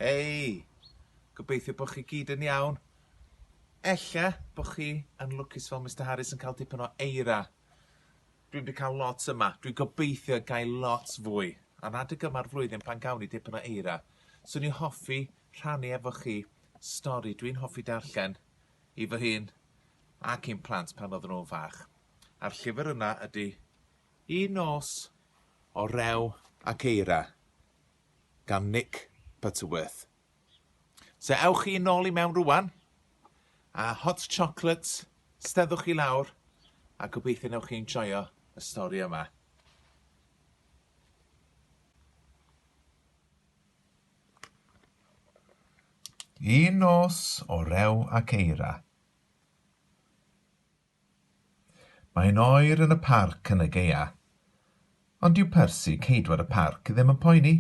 Hei! Gobeithio bo chi gyd yn iawn. Ella bo chi yn lwcus fel Mister Harris yn cael dipyn o eira. Dwi'm 'di cael lot yma. Dwi'n gobeithio gael lot fwy. A'n adeg yma'r flwyddyn pan gawn ni dipyn o eira. Swn i'n hoffi rhannu efo chi stori dwi'n hoffi darllen i fy hun ac i'n plant pan oedden nhw'n fach. A'r llyfr yna ydy Un Nos o Rew ac Eira. gan Nick Butterworth. So ewch chi nôl i mewn rwan, a hot chocolates, steddwch chi lawr, a gobeithio newch chi enjoio y stori yma. Un nos o rew ac eira. Mae'n oer yn y parc yn y gaea. Ond dyw Percy, ceidwad y parc, ddim yn poeni.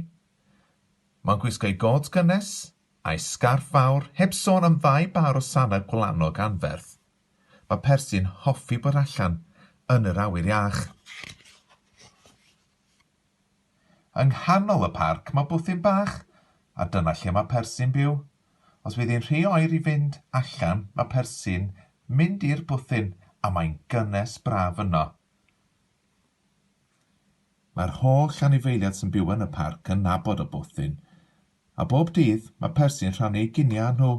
Mae'n gwisgo'i gôt gynnes, a'i sgarff fawr, heb sôn am ddau bâr o sanau gwlanog anferth. Mae Percy'n hoffi bod allan yn yr awyr iach. Yng nghanol y parc mae bwthyn bach, a dyna lle mae Persi'n byw. Os fydd hi'n rhy oer i fynd allan mae Persi'n mynd i'r bwthyn a mae'n gynnes braf yno. Mae'r holl anifeiliaid sy'n byw yn y parc yn nabod y bwthyn, a bob dydd mae Persi'n rhannu ei giniau â nhw.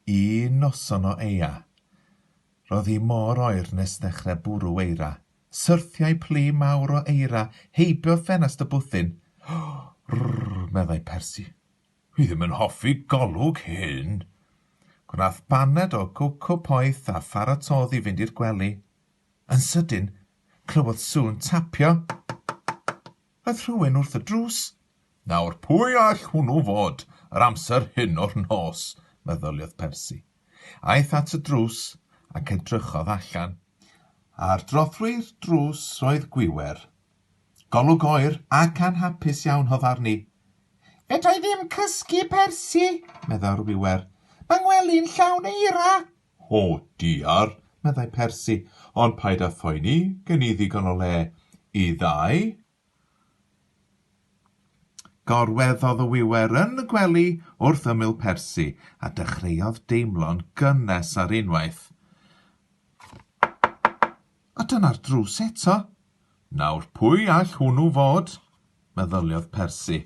Un noson o eia, roedd hi mor oer nes ddechrau bwrw eira. Syrthiai plu mawr o eira heibio ffenast y bwthyn. Rrrr, meddai Persi. Dwi ddim yn hoffi golwg hyn. Gwnaeth baned o gowco poeth a pharatodd i fynd i'r gwely. Yn sydyn, clywodd sŵn tapio. Aeth rhywun wrth y drws. Nawr, pwy all hwnnw fod, yr amser hyn o'r nos? meddyliodd Percy. Aeth at y drws ac edrychodd allan. Ar drothwy'r drws roedd Gwiwer. Golwg oer ac anhapus iawn oedd arni. Fedra i ddim cysgu, Percy, meddai'r Wiwer. Mae ngwely'n llawn eira. O, diar, meddai Persi, ond paid â phoeni, gen i ddigon o le i ddau. Gorweddodd y wiwer yn y gwely wrth ymyl Persi, a dechreuodd deimlo'n gynnes ar unwaith. A dyna'r drws eto. Nawr, pwy all hwnnw fod? meddyliodd Persi.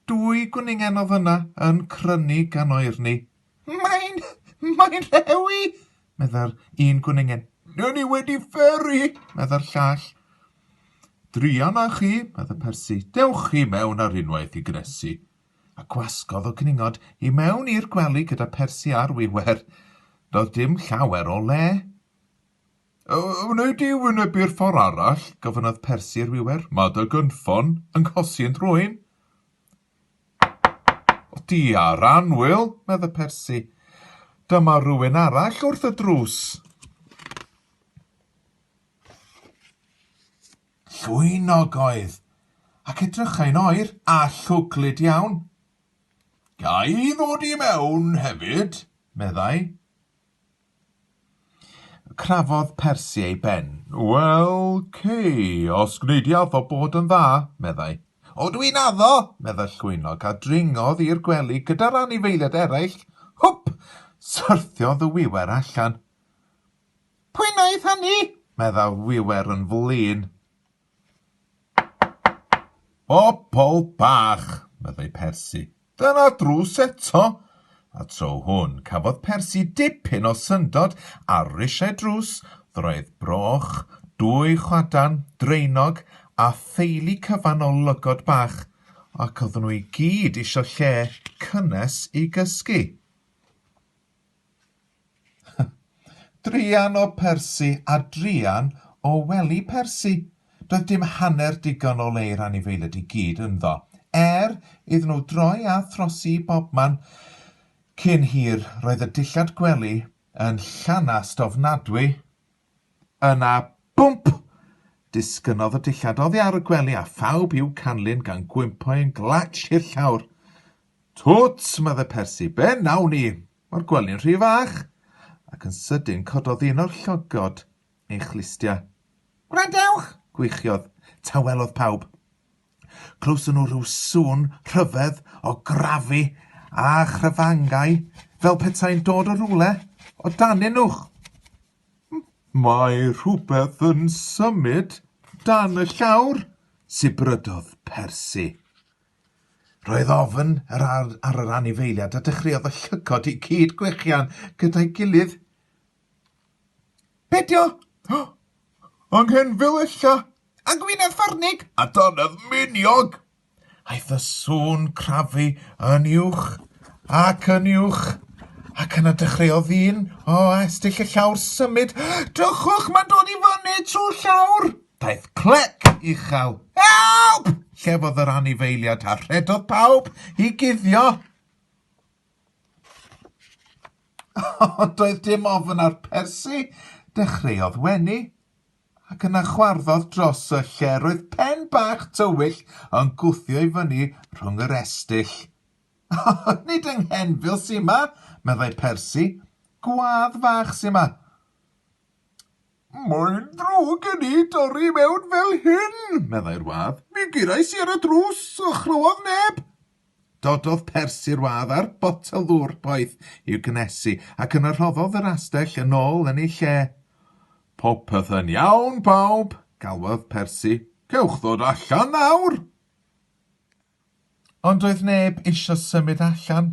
Dwy gwningen oedd yna yn crynu gan oerni. Mae'n... mae'n rhewi! meddai'r un gwningen. Dyn ni wedi fferi! meddai'r llall. Druan â chi, meddai Persi. Dewch chi mewn ar unwaith i gnesu. A gwasgodd o gningod i mewn i'r gwely gyda Persi ar wiwer. Doedd dim llawer o le. Wnei di wynebu'r ffordd arall? gofynnodd Persi i'r wiwer. Mae dy gynffon yn cosi yn drwyn. O, di ar anwyl, meddai Persi. Dyma rywun arall wrth y drws. Llwynog oedd, ac edrychai'n oer a llwglyd iawn. Ga i ddod i mewn hefyd? meddai. Crafodd Percy ei ben. Wel, Kay, os gwneud di addo bod yn dda, meddai. O, dwi'n addo, meddai'r llwynog, a dringodd i'r gwely gyda'r anifeiliaid eraill. Hwp! Syrthiodd y wiwer allan. Pwy wnaeth hynny? meddai'r wiwer yn flin. Bobol bach! meddai Persi. Dyna drws eto! A tro hwn, cafodd Persi dipyn o syndod ar risiau drws, ddraeth broch, dwy chwadan, draenog, a theulu cyfan o lygod bach, ac oedden nhw i gyd isio lle cynnes i gysgu. Druan o Persi a druan o wely Persi. Doedd dim hanner digon o le i'r anifeiliaid i gyd ynddo, er iddyn nhw droi a throsi i bobman. Cyn hir, roedd y dillad gwely yn llanast ofnadwy, Yna, bwmp! Disgynnodd y dillad oddi ar y gwely a phawb i'w canlyn gan gwympo yn glatsh i'r llawr. Twt! medde Persi. Be nawn ni? Mae'r gwely'n rhy fach! Ac yn sydyn cododd un o'r llogod ei chlustia. Gwrandewch! gwichiodd. Tawelodd pawb. Clywson nhw rhyw sŵn rhyfedd o grafu a chryfangau fel petai'n dod o rywle o danyn nhw. Mae rhywbeth yn symud dan y llawr, sibrydodd Percy. Roedd ofn ar, ar, ar yr anifeiliad a dechreuodd y llygod i gyd gwechian gyda'i gilydd. Be dio? Anghenfil ella? A gwynedd ffarnig? A donnedd miniog? Aeth y sŵn crafu yn uwch ac yn uwch, ac yna dechreuodd ddyn o astull y llawr symud. Dychwch, mae'n dod i fyny trwy'r llawr! Daeth clec uchel. Help! Llefodd yr anifeiliad a rhedodd pawb i guddio. Doedd dim ofn ar Percy, dechreuodd wenu. ac yna chwarddodd dros y lle roedd pen bach tywyll yn gwthio i fyny rhwng yr estyll. O, nid yng Nghenfil sy 'ma, meddai Percy. Gwâdd fach sy 'ma. Mae'n ddrwg gen i dorri i mewn fel hyn, meddai'r wâdd. Mi gerais i ar y drws, a chlywodd neb. Dododd Percy i'r wâdd a'r botel ddŵr poeth i'w gynnesu, ac yna rhoddodd yr astell yn ôl yn ei lle. Popeth yn iawn, pawb! galwodd Percy. Cewch ddod allan nawr! Ond doedd neb eisiau symud allan.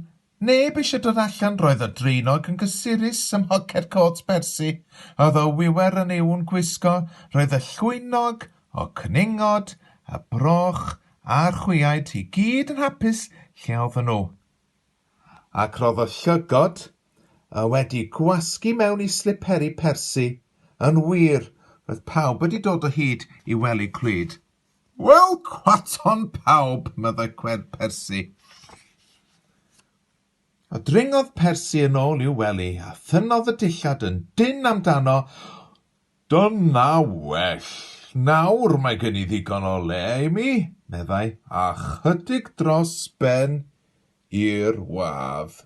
Neb eisiau dod allan, roedd y draenog yn gysurus ym mhoced côt Percy, a oedd o wiwer yn ei ŵn gwisgo, roedd y llwynog O cwningod, a broch, a'r chwiaid, i gyd yn hapus lle oedden nhw. Ac roedd y llygod, y wedi gwasgu mewn i sliperi persi, yn wir, roedd pawb wedi dod o hyd i wely clwyd. Wel, cwaton pawb, meddai Cwed Persi. A dringodd Persi yn ôl i'w wely, a thynnodd y dillad yn dynn amdano, Dyna well. Nawr mae gen i ddigon o le, Amy, meddai, a chydig dros ben i'r wlad.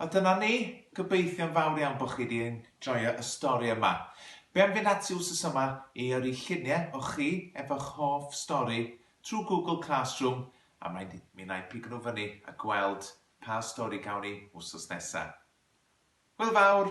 A dyna ni. Gobeithio'n fawr iawn bod chi wedi enjoio y stori yma. Be am fynd ati wsos yma i yrru lluniau o chi efo'ch hoff stori trwy Google Classroom a mi wna i pigo nhw fyny a gweld Pa stori gawn ni wsos nesa? Hwyl fawr!